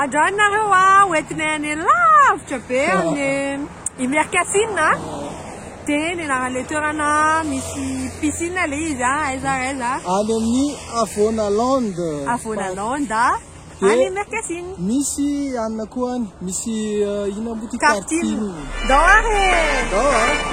Andrany nareo a ho entinay any lavitra be amin'ny i Mercafine a dia ny anaran'ilay toerana misy piscine ilay izy a aiza ary aiza a Any amin'ny Avona Land Avona Land a any Mercafine Misy anona koa any misy inona moa ity Tartine Ndao ary e! Ndao a!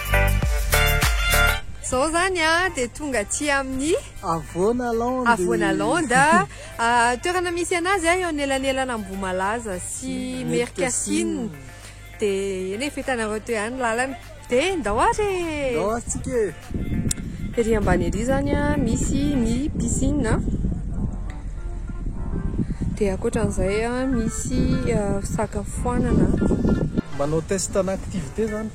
Zao zany a dia tonga aty amin'ny Avoanalande. Avoanalande. Ah, toerana misy anazy a eo anelanelana Ambohimalaza sy Merkasina. Dia eny e, fa hitanareo teo ihany ny lalana. Dia ndao ary e! Ndao ary tsika e! Ery ambany ery zany a misy ny piscine. Dia ankoatran'izay a misy fisakafoanana. Manao test ana activité zany.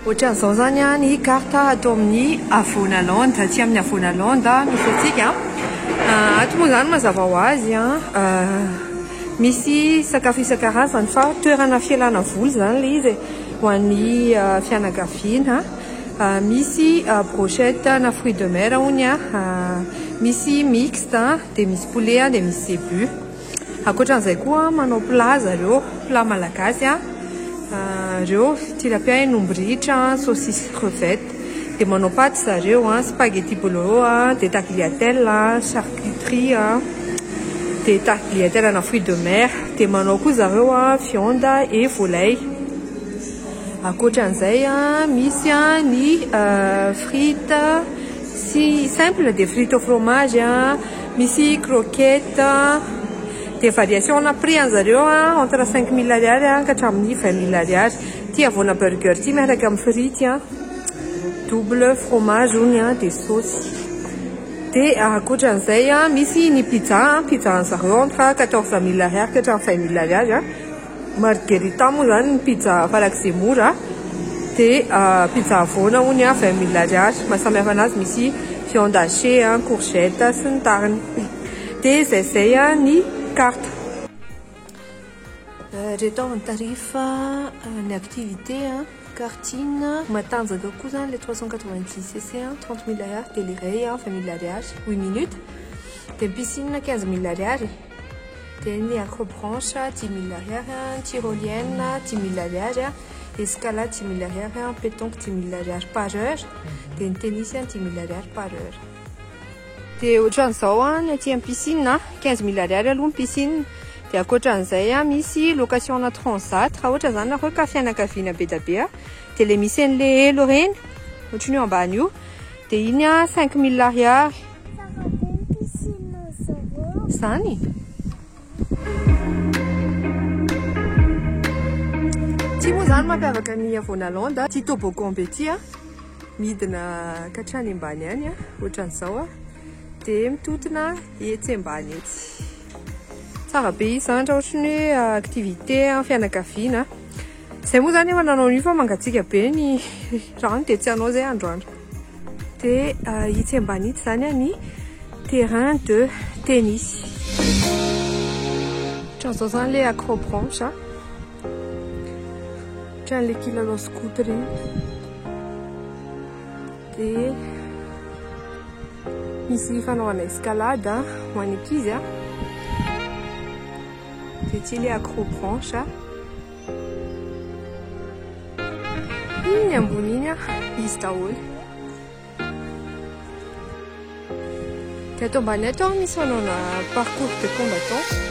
Ohatran'izao izany ny carte ato amin'ny Avonalande, aty amin'ny Avonalande misy antsika. Ah, ato moa izany mazava ho azy an, ah, misy sakafo isan-karazany fa toerana fialana voly izany ilay izy e, ho an'ny ah, fianakaviana. Misy brochette na fruit de mer hono a, misy mixte a, dia misy poulet a, dia misy zebu. Ankoatran'izay koa manao plat zareo, plat malagasy a, ireo tilapia hen'omby ritra, saucisse crevette. Dia manao paty zareo, spaghetti bolognese, dia tagliatelle, charcuterie a, dia tagliatelle ana fruit de mer. Dia manao koa zareo viande et volaille. Ankoatran'izay, misy ny frites sy simple dia frites au fromage, misy croquettes, dia variation ana prix an'i zareo entre cinq mille ariary ka hatramin'ny vingt mille ariary, ity havoana burger ity miaraka amin'ny frity double fromage hono dia saosy, dia ankoatran'izay misy ny pizza, pizza an'i zareo entre quatorze mille ariary ka hatramin'ny vingt mille ariary. Margherita moa izany ny pizza farak'izay mora dia pizza havoana hono a vingt mille ariary maha samy hafa anazy misy viande hachée a courgette sy ny tariny dia izay izay a ny carte ireto avy ny tarif ny activité a karting matanjaka koa izany ilay trois cent quatre vingt dix cc a trente mille ariary dia ilay iray a vingt mille ariary huit minutes dia ny piscine quinze mille ariary dia ny acrobranche dimy mille ariary an, tyrolienne dimy mille ariary an, escalade dimy mille ariary an, pétanque dimy mille ariary par heure, dia ny tennis an dimy mille ariary par heure. Dia ohatran'izao an, ny aty amin'ny piscine an, quinze mille ariary aloha ny piscine, dia ankoatran'izay an, misy location-na transat, raha ohatra izany ianareo ka fianakaviana be dia be an, dia ilay misy an'ilay helo ireny, ohatran'io ambany io, dia iny an cinq mille ariary. Tsara be ny piscine zareo. Zany? Ty moa zany mampiavaka ny Avonaland a, ty toboggan be ty a, midina katrany ambany any a, ohatran'izao a, de mitotona etsy ambany etsy. Tsara be izy zany raha ohatry ny hoe activité fianakaviana. Zay moa zany efa nanao an'io fa mangatsiaka be ny rano dia tsy hanao zay androany. Dia euh, itsy ambany itsy zany a ny terrain de tennis. Ohatran'izao zany le acrobranche a. Ohatran'le kilalao scout reny. Dia misy fanaovana escalade ho an'ny ankizy a. Ity le accro branche a. Iny ambony iny a, izy daholo. Dia ato ambany ato a, misy fanaona parcours de combattant.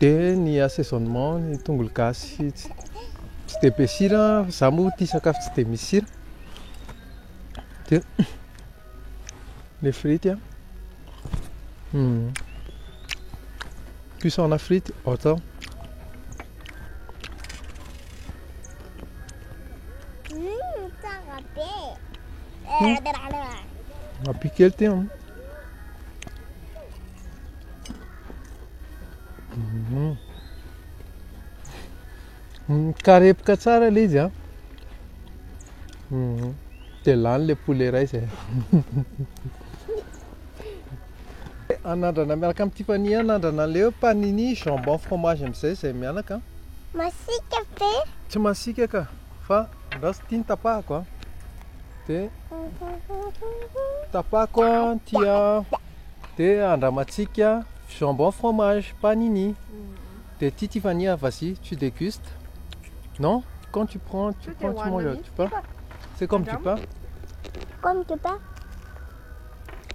Dia ny assaisonnement, ny tongolo gasy tsy dia be sira, izaho moa tia sakafo tsy dia misy sira, dia ny frity an, cuisson-na frity ohatra izao. Tsara be! Raha be kely ity an. Mhm. Mikarepoka tsara ilay izy an. Mhm. Dia lany ilay poulet iray izay. Anandrana miaraka amin'i Tiffany anandrana an'ilay hoe panini, jambon, fromage amin'izay izay mianaka. Masika ve? Tsy masika ka. Fa raha tsy tia ny tapahako a, dia tapahako ny tia dia andramantsika jambon fromage panini. Dia tia Tiffany a, vas-y tu dégustes. Non? Quand tu prends, tu prends, tu manges, tu pas. C'est comme du pain. Comme du pain.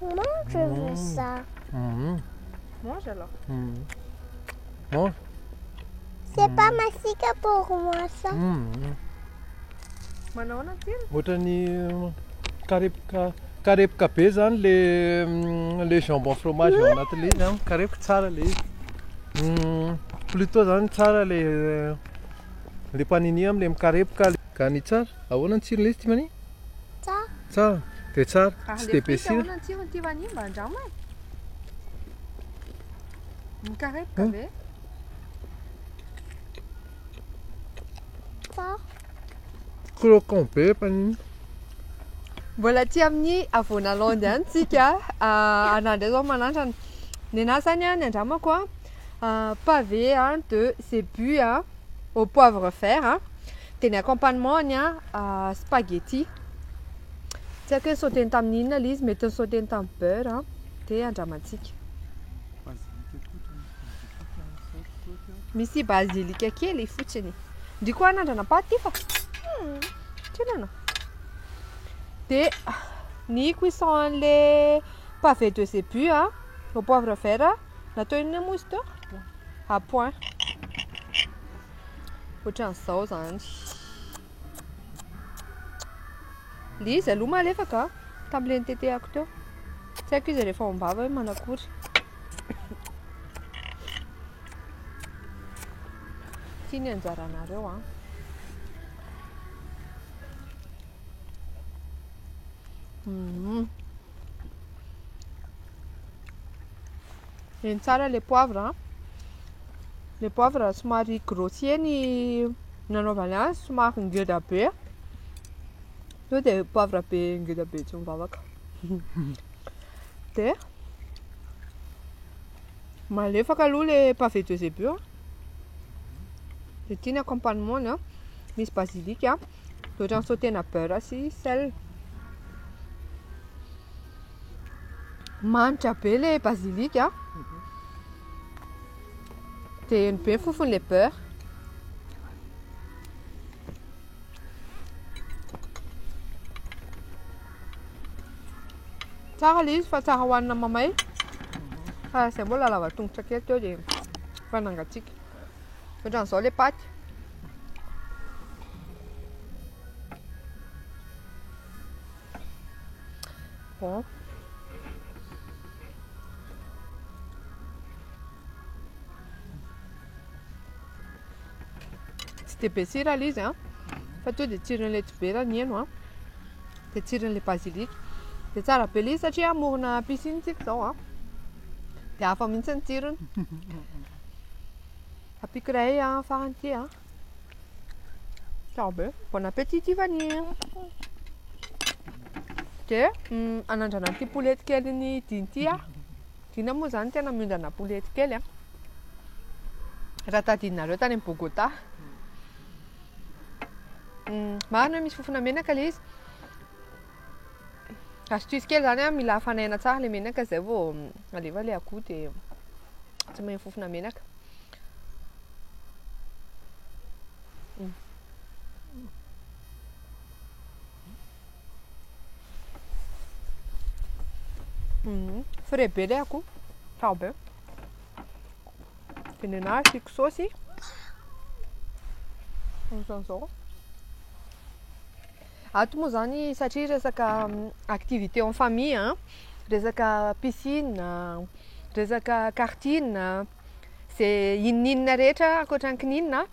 Moi, je veux ça. Mhm. Mange alors. Mhm. Mange. C'est pas masika pour moi ça. Mm. Manahoana tsiro? Ohatran'ny mm, karepoka karepoka be zany le mm, le jambon fromage ao anaty le izy amiko karepoka tsara le izy Mm, plutôt zany tsara le le panini amle mikarepoka le- ka ny tsara ahoana ny tsirony izy ty mani Ça, tsara de tsara Ary tsy le de be frite sira ahoana ny tsirony ty vanio mba andramo e. Mikarepoka ve? Croquant be efa an'iny. Mbola aty amin'ny havoana landy ihany tsika. Ah, anà indray izao manandrana. Ny anà izany ah, ny andramako ah, ah, pavé ah, de zebu ah, au poivre vert ah, dia ny accompagnement-ny ah, ah, spaghetti. Tsy haiko hoe ni-sauter-ny tamin'ny inona ilay izy, mety ni-sauter-ny tamin'ny beurre ah, dia andramantsika. Misy bazilika kely fotsiny. Ndry koa anandrana paty fa hmm, tsinana. Dia ny cuisson an'le pavé de zébu a, au poivre vert a, natao inona moa izy teo? À point. Ohatran'izao zany. Ilay izy aloha malefaka an, tamin'ilay nitetehako teo. Tsy haiko izy rehefa ao am-bava hoe manakory. Ity ny anjaranareo an. Mhm. Eny tsara ilay poivre an. Ilay poivre somary grossier ny nanaovany azy somary ngeda be to de poivre be ngeda be tsy mivavaka de malefaka aloha le pavé de zebu a de ity ny accompagnement ny a misy basilic a de ohatrany sautena beurre sy sel manitra be le basilic a Dia eny be fofony le beurre. Tsara le izy fa tsara hohanina mamay. Fa izay mbola lava tongotra kely teo dia efa nangatsiaka. Ohatran'izao le paty. Bon. Tsy dia be sira ilay izy an, fa tonga dia tsiron'ilay tsibera ny heno an, dia tsiron'ilay basilic. Dia tsara be ilay izy satria amorona piscine isika izao an, dia hafa mihitsy ny tsirony. Ampiako iray farany ity an. Tsara be. Bon appétit Tiffany. Dia mm, anandrana an'ity poulety kely ny dina ity ah. Dina moa zany tena miondrana poulety kely ah. Raha tadidinareo tany amin'ny Bogota. Mm, marina hoe misy fofona menaka ilay izy. Astuce kely zany a, mila afanaina tsara le menaka zay vao alefa le akoho de tsy mahay fofona menaka. Mhm. Frais be le akoho. Tsara be. De nenahy asiako saosy. Ohatrany zao. Ato moa izany satria resaka activité en famille an, resaka piscine, resaka karting, izay inoninona rehetra ankoatra ny kininina an,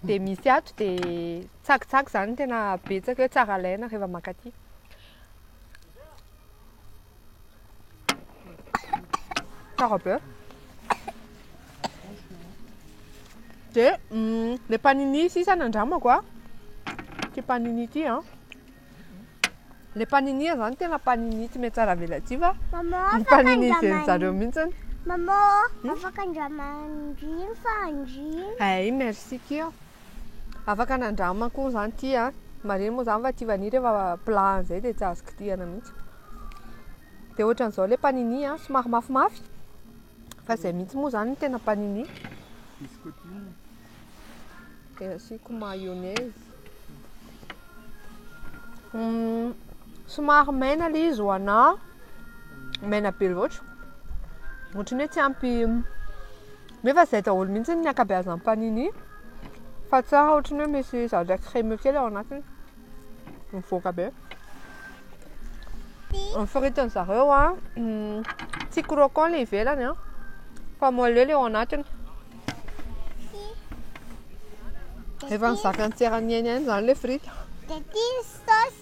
dia misy ato dia tsakitsaky izany no tena betsaka eo, tsara alaina rehefa mankaty. Tsara be. Dia ilay panini sisa nandramako a. Ity panini ity a. Ilay panini izany tena panini tsy mety tsara avela tsy fa ny panini izay zareo mihitsy. Maman, hmm? afaka andramandriny fa andriny. Eh, merci kia. Afaka nandramako moa zany ty a! Marigny moa zany fa ty vanille rehefa plat an'izay dia tsy azo kitihana mihitsy. Dia ohatran'izao ilay panini a, somary mafimafy, fa izay mihitsy moa zany no tena panini. Dia asiako mayonnaise. Hum, somary maina ilay izy ho anà, maina be loatra. Ohatran'ny hoe tsy ampy Nefa zay daholo mihitsy ny ankabeazan'ny panini fa tsara ohatran'ny hoe misy zavatra crémeux kely ao anatiny. Mivoaka be. Ny firitin'ny zareo a tsy croquant le ivelany a fa moelleux le ao anatiny. Efa nizaka ny tsera niainany zany le frity. Dia ity ny sauce.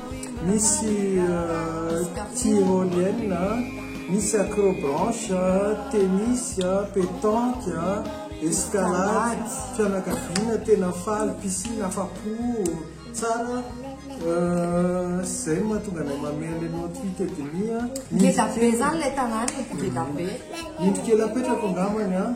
Misy tyrolienne, misy acrobranche, tennis, petanque, escalade, fianakaviana tena faly, piscine afa-po, tsara, izay no mahatonga anay mamehy an'ilay Nord-Huit et demi. Ngeda be izany ilay tanàna e, ngeda be. Indro kely apetrako angambany an.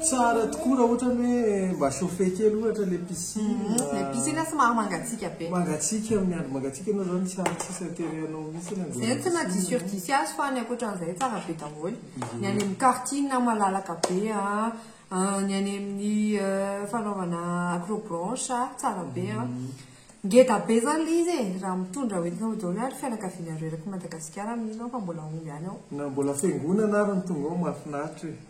Tsara tokoa raha ohatra ny hoe mba chauffer kely ohatra le piscine. Mhm, le piscine somary mangatsiaka be. Mangatsiaka amin'ny andro mangatsiaka ianao zany tsy ary tsisy intérêt anao mihitsy ny andeha. Zay tsy na diso sur diso azy fa ny ankoatran'izay tsara be daholo. Mhm. Ny any amin'ny karting malalaka be a, ah, ny any amin'ny euh, fanaovana acrobranche tsara be a. Mhm. Ngeda be zany le izy e, raha mitondra hoentinao daholo ary fianakavianareo eraky Madagasikara amin'iny ianao fa mbola omby any ao. Na mbola fiangonana ary no tonga ao mahafinaritra e.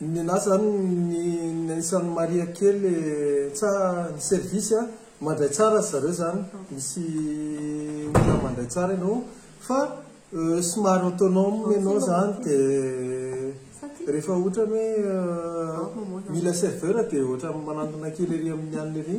Nenah zany ny niaisan'i Maria kely tsa ny service a, mandray tsara ry zareo zany, misy olona mandray tsara ianao fa somary autonome ianao zany de rehefa otrany hoe mila serveur de otrany manantona kely ery amin'ny anona ery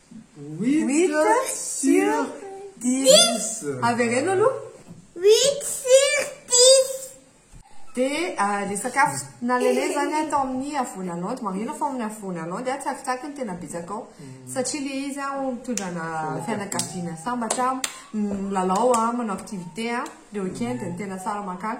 Huit sur dix. Avereno aloha. Huit sur dix. Dia ilay sakafo nalainay izany tao amin'ny Avonalandy, marihina fa ao amin'ny Avonalandy, tsakitsaky no tena betsaka ao. Satria ilay izy mitondra ana fianakaviana sambatra, milalao, manao activité, le week-end no tena tsara mankany.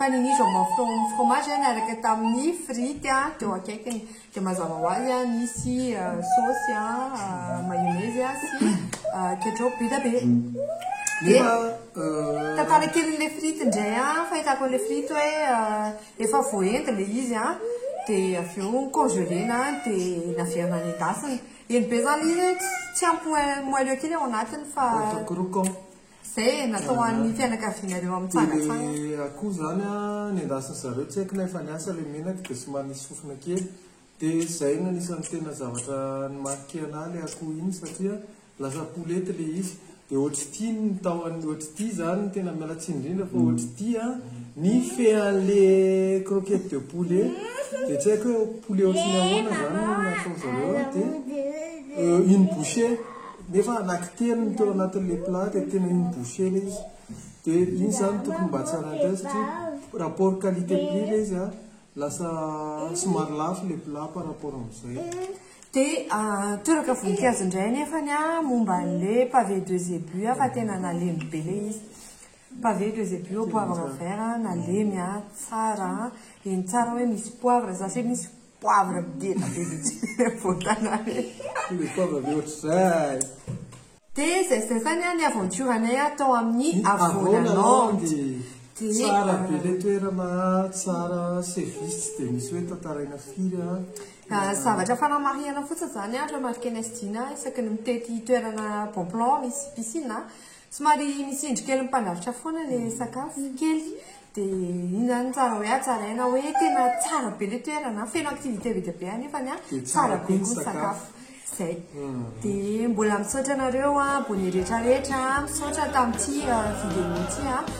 Panini jambon flan fromage an araka tamin'ny frity an teo akaikiny dia mazava ho azy an nisy saosy an mayonnaise an sy ketchup be dia be dia tantara kelin'ilay frity indray an fahitako an'ilay frity hoe efa voaendy ilay izy an dia avy eo congelena dia naverina nendasina eny be izany ilay izy hoe tsy ampy moelleux kely ao anatiny fa Izay e, natao ho an'ny fianakavianareo amitsangatsangana. Dia akoho izany an, nendasin-dry zareo, tsy haiko na efa niasa ilay menaka dia somary nisy sofina kely. Dia izay no anisan'ny tena zavatra ni-marquer anà ilay akoho iny satria lasa poulette ilay izy. Dia ohatr'ity ny tao an, ohatr'ity izany ny tena miala tsiny indrindra fa ohatr'ity an, ny fean'ilay croquette de poulet dia tsy haiko hoe poulet ohatry ny ahoana izany no nataon-dry zareo an, dia une bouchée. Nefa anaky telo no teo anatin le plat dia tena iny boucher le izy. Dia iny zany tokony mba tsy haraha indray satria rapport qualité prix le izy an, lasa somary lafo le plat par rapport amizay. Dia toraka voninkazo indray anefany an momba an le pavé de zébus an fa tena nalemy be le izy. Pavé de zébus au poivre vert an, nalemy an, tsara an, eny tsara hoe misy poivre, za se misy Poivre midina be mihitsy ny ampovoan-tanàna e! Le pauvre be ohatr'izay! Dia izay sy izay izany an ny aventure anay an tao amin'ny Avonalandy. Dia Tsara be ilay toerana an, tsara an, service tsy dia misy hoe tantaraina firy an. Zavatra fanamarihana fotsiny izany an, remarquer ny SDINA isaky ny mitety toerana bon plan misy piscine an, Somary misy indro kely mipandrafitra foana le sakafo kely de iny zany ny tsara hoe hatsaraina hoe tena tsara be le toerana feno activité be dia be anefany a tsara be koa ny sakafo zay de mbola misaotra anareo a abonné retraretra misaotra tamty vidéo ty a